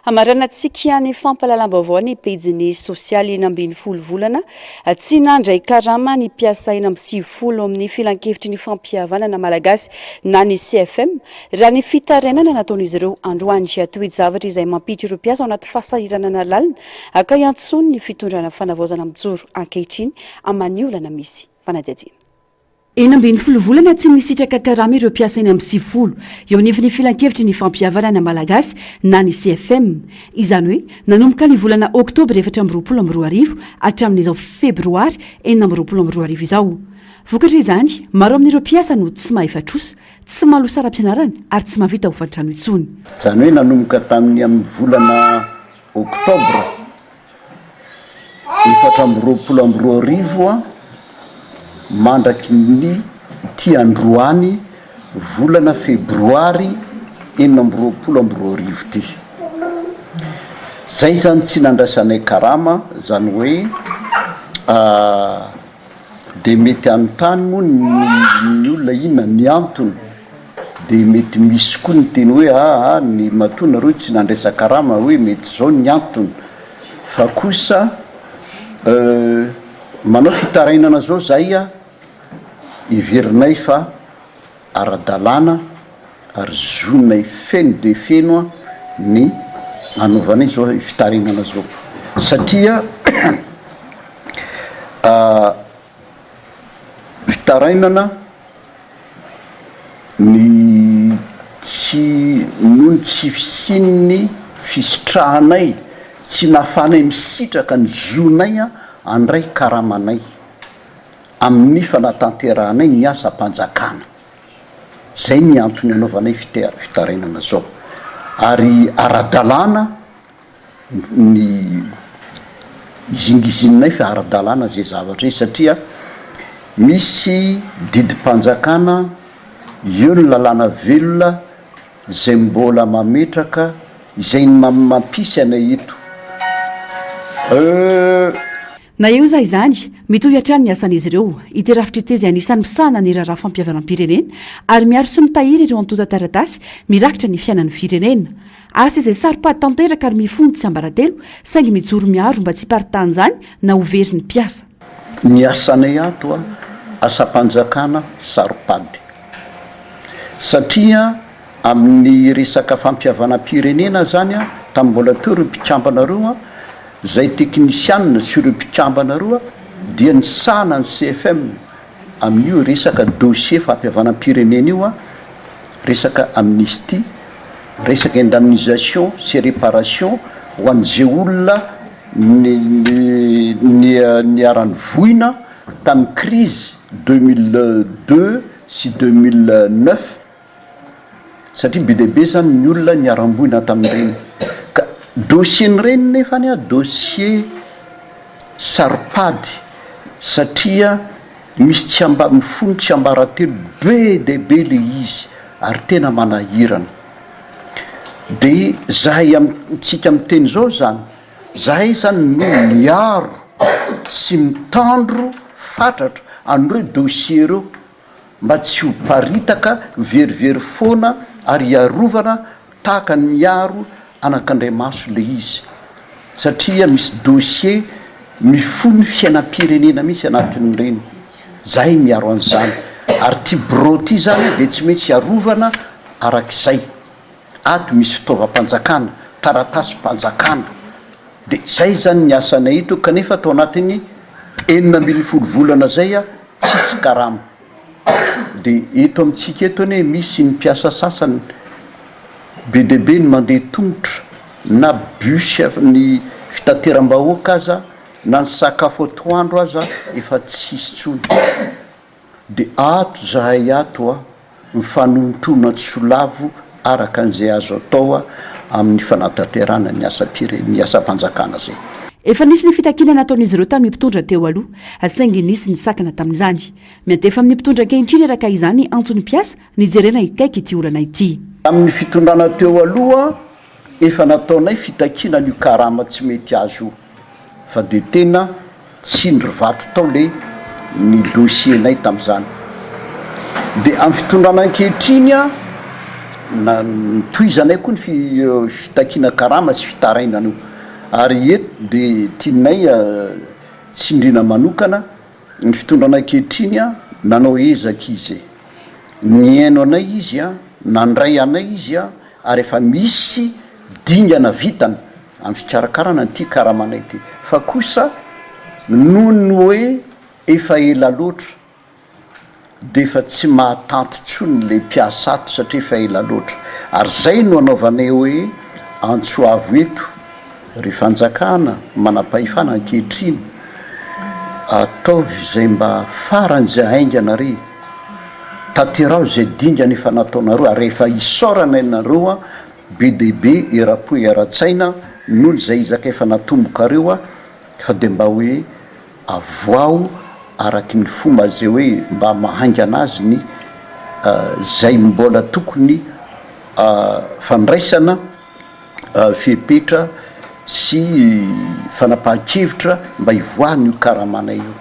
Hamaranantsika ny fampahalalam-baovao ny pejiny sosialy enina ambin'ny folo volana tsy nandray karama ny mpiasa enina amby sivifolo amin'ny Filankevitry ny Fampihavanana Malagasy na ny CFM raha ny fitarainana nataon'izy ireo androany. Toe-javatra izay mampiditra ireo mpiasa ao anaty fahasahiranana lalina haka iantsoany ny fitondrana fanavaozana mijoro ankehitriny aman'io olana misy fanadihadiana. Enina ambin'ny folo volana tsy nisitraka karama ireo mpiasa eny amin'ny sivifolo eo anivon'ny Filankevitry ny Fampihavanana Malagasy na ny CFM. Izany hoe nanomboka ny volana oktobra efatra amby roapolo amby roa arivo hatramin'izao febroary enina amby roapolo amby roa arivo izao. Vokatra izany, maro amin'ireo mpiasa no tsy mahefa trosa, tsy maloa saram-pianarana ary tsy mahavita hofan-trano intsony. Izany hoe nanomboka tamin'ny amin'ny volana oktobra. efatra amby roapolo amby roa arivo mandraky ny ity androany volana febroary enina amby roapolo amby roa arivo ity zay zany tsy nandraisanay karama zany hoe ah, Dia mety hanontany moa ny olona inona ny antony, dia mety misy koa ny teny hoe aa ny matoa nareo tsy nandraisa karama hoe mety izao ny antony fa kosa manao fitarainana izao zahay a, heverinay fa. ara-dalàna ary zonay feno dia feno ny hanaovana izao fitarainana izao satria fitarainana ny tsy noho ny tsy fisian'ny fisitrahanay tsy nahafahanay misitraka ny zonay handray karamanay. amin'ny fanatanterahanay ny asam-panjakana. Izay ny antony anaovanay fitarainana izao. Ary ara-dalàna ny izingizininay fa ara-dalàna izay zavatra izay satria misy didim-panjakana eo ny lalàna velona izay mbola mametraka izay mampisy anay eto. Na eo aza izany, mitohy hatrany ny asan'izy ireo. Ity rafitra ity dia anisan'ny misahana ny raharaha fampihavanam-pirenena ary miaro sy mitahiry ireo antontan-taratasy mirakitra ny fiainan'ny firenena. Asa izay saropady tanteraka ary mifono tsiambaratelo saingy mijoro miaro mba tsy hiparitahan'izany na ho very ny mpiasa. Ny asanay ato asam-panjakana saropady satria. Amin'ny resaka fampihavanam-pirenena izany, tamin'ny mbola teo ireo mpikambana roa, izay teknisianina sy ireo mpikambana roa dia nisahana ny CFM amin'io resaka dossier fampihavanam-pirenena io, resaka amnistie, resaka indemnisation sy réparation ho an'izay olona niharan'ny voina tamin'ny crise deux mille deux sy deux mille neuf. satria be dia be zany ny olona niharam-boina tamin'ireny ka dossier-n'ireny nefa ny ah dossier saro-pady satria misy tsy ambanifolo tsiambaratelo be dia be le izy ary tena manahirana dia zahay amintsika miteny zao zany zahay zany no miaro sy mitandro fatratra an'ireo dossier ireo mba tsy ho paritaka, verivery foana ary hiarovana tahaka ny miaro anakandriamaso ilay izy satria misy dossier mifono fiainam-pirenena mihitsy anatin'ireny, zay miaro an'izany ary ty birao ty zany dia tsy maintsy hiarovana arak'izay, ato misy fitaovam-panjakana, taratasim-panjakana dia zay zany ny asanay eto kanefa tao anatin'ny enina ambin'ny folo volana zay. tsisy karama. Dia eto amintsika eto anie misy ny mpiasa sasany be dia be ny mandeha tongotra na bus ny fitateram-bahoaka aza na ny sakafo atoandro aza efa tsisy intsony dia ato zahay ato a! Mifanohintona tsy ho lavo araka an'izay azo atao amin'ny fanatanterahana ny asam-pirene, ny asam-panjakana izay. Efa nisy ny fitakiana nataon'izy ireo tamin'ny mpitondra teo aloha, saingy nisy ny sakana tamin'izany. Miantefa amin'ny mpitondra ankehitriny araka izany antony mpiasa, ny hijerena hikaiky ity olana ity. Tamin'ny fitondrana teo aloha, Efa nataonay fitakiana an'io karama tsy mety azo io fa dia tena tsindry vato tao le ny dossier-nay tamin'izany. Dia amin'ny fitondrana ankehitriny na notohizanay koa ny fitakiana karama sy fitarainana io ary eto dia tianay tsindriana manokana Ny fitondrana ankehitriny a, nanao ezaka izy e, nihaino anay izy a, nandray anay izy a, ary efa misy dingana vitany amin'ny fikarakarana an'ity karamanay ity, fa kosa noho ny hoe efa ela loatra dia efa tsy mahatanty intsony ilay mpiasa ato satria efa ela loatra ary izay no anaovana eo hoe antso avo eto ry fanjakana manampahefana ankehitriny ataovy izay mba farany izay haingana ry tanteraho izay dingana efa nataonareo ary efa isaorana ianareo an be dia be eram-po eran-tsaina noho izay ezaka efa natombokareo an fa dia mba hoe Avoaho araky ny fomba zay hoe mba mahaingana azy ny zay mbola tokony fandraisana fepetra sy fanapahan-kevitra mba hivoahany io karamana io.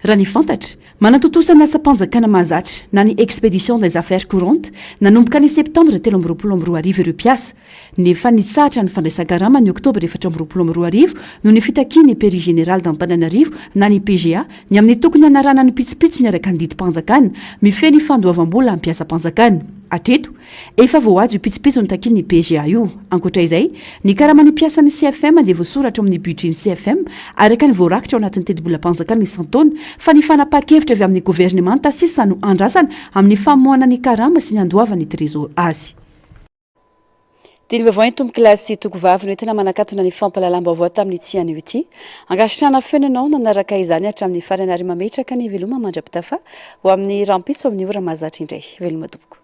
Raha ny fantatra, manatontosa ny asam-panjakana mahazatra na ny Expédition des affaires courantes nanomboka ny Septambra telo amby roapolo amby roa arivo ireo mpiasa, Ny efa nitsahatra ny fandraisan-karama ny oktobra efatra amby roapolo amby roa arivo noho ny fitakian'ny Peri Général d'Antananarivo na ny PGA ny amin'ny tokony hanaranany pitsopitsony araka ny didim-panjakana mifehy ny fandoavam-bola am-piasam-panjakana. Hatreto, efa voahaja io pitsopitsony takian'ny PGA io. Ankoatra izay, ny karaman'ny mpiasan'ny CFM dia voasoratra ao amin'ny budget-n'ny CFM araka ny voarakitra ao anatin'ny tetibolam-panjakana isan-taona fa ny fanapahan-kevitra avy amin'ny governemanta sisa no andrasana amin'ny famoahana ny karama sy ny handoavan'ny Trésor azy. Didy vaovao entom-kilasy Tokovavy no entina manakatona ny fampahalalam-baovao tamin'ity anio ity. Ankasitrahana feno ianao nanaraka izany hatramin'ny farany ary mametraka ny veloma mandra-pitafa ho amin'ny rahampitso amin'ny ora mahazatra indray. Veloma tompoko.